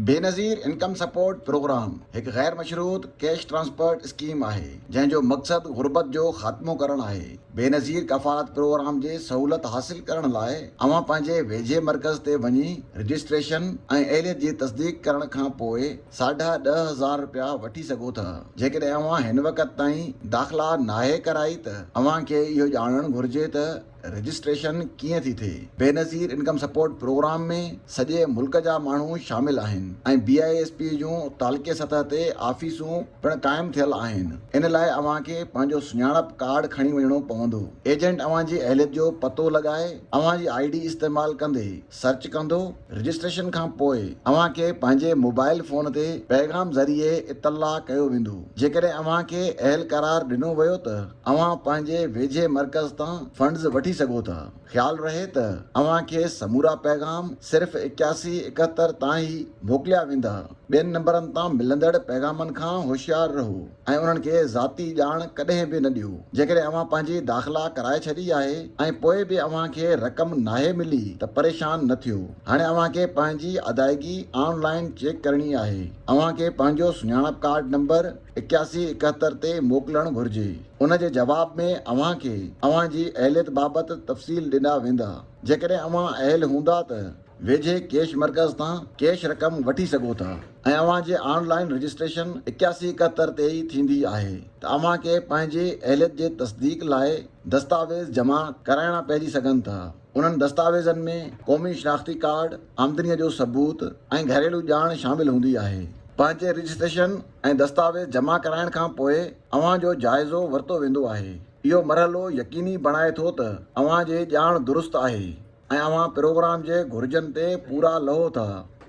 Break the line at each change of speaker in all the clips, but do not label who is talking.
Benazir income support programme هڪ غير مشروط ڪيش ٽرانسپرٽ اسڪيم آهي، جنهن جو مقصد غربت جو خاتمو ڪرڻ آهي. بينظير ڪفالت پروگرام جي سهولت حاصل ڪرڻ لاء اوهان پنهنجي ويجهي مرڪز تي وڃي رجسٽريشن ۽ اهليت جي تصديق ڪرڻ کان پوء ساڍا ڏهه هزار رپيا وٺي سگهو ٿا. جيڪڏهن اوهان هن وقت تائين داخلا ناهي ڪرائي ته اوهان کي اهو ڄاڻڻ گهرجي ته رجسٽريشن ڪيئن ٿي ٿئي؟ بينظير انڪم سپورٽ پروگرام ۾ سڄي ملڪ جا ماڻهو شامل آهن ۽ بي آء ايس پي جون تعلقي سطح تي آفيسون پڻ قائم ٿيل آهن ان لاء اوهان کي پنهنجو سڃاڻپ ڪارڊ کڻي وڃڻو پوندو ايجنٽ اوهان جي اهليت جو پتو لڳائي اوهان جي آئي ڊي استعمال ڪندي سرچ ڪندو، رجسٽريشن کان پوء اوهان کي پنهنجي موبائل فون تي پيغام ذريعي اطلاع ڪيو ويندو. جيڪڏهن اوهان کي اهل قرار ڏنو ويو ته اوهان پنهنجي ويجهي مرڪز تان فنڊز وٺي سگهو ٿا. خيال رهي ته اوهان کي سمورا پيغام صرف اڪياسي اڪهتر تان ئي موڪليا ويندا. ٻين نمبرن تان ملندڙ پيغامن کان هوشيار رهو. ۽ انهن کي ذاتي ڄاڻ ڪڏهن به نه ڏيو. جيڪڏهن اوهان پنهنجي داخلا ڪرائي ڇڏي آهي ۽ پوء به اوهان کي رقم ناهي ملي ته پريشان نه ٿيو. هاڻي اوهان کي پنهنجي ادائيگي آن لائن چيڪ ڪرڻي آهي. اوهان کي پنهنجو سڃاڻپ ڪارڊ نمبر اڪياسي اڪهتر تي موڪلڻ گهرجي. ان جي جواب ۾ اوهان کي اوهان جي اهليت بابت تفصيل ڏنا ويندا. جيڪڏهن اوهان اهل هوندا ته. ويجهي ڪيش مرڪز تان ڪيش رقم وٺي سگهو ٿا ۽ اوهان جي آن لائن رجسٽريشن اڪياسي اڪهتر تي ئي ٿيندي آهي ته اوهان کي پنهنجي اهليت جي تصديق لاء دستاويز جمع ڪرائڻا پئجي سگهن ٿا انهن دستاويزن ۾ قومي شناختي ڪارڊ آمدني جو ثبوت ۽ گهريلو ڄاڻ شامل هوندي آهي پنهنجي رجسٽريشن ۽ دستاويز جمع ڪرائڻ کان پوء اوهان جو جائزو ورتو ويندو آهي اهو مرحلو يقيني بڻائي ٿو ته اوهان جي ڄاڻ درست آهي. ۽ اوهان پروگرام جي گهرجن تي پورا لهو ٿا.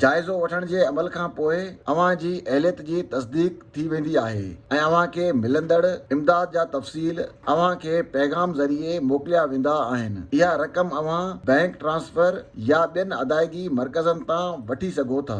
جائزو وٺڻ جي عمل کان پوء اوهان جي اهليت جي تصديق ٿي ويندي آهي ۽ اوهان کي ملندڙ امداد جا تفصيل اوهان کي پيغام ذريعي موڪليا ويندا آهن. اها رقم اوهان بئنڪ ٽرانسفر يا ٻين ادائيگي مرڪزن تان وٺي سگهو ٿا.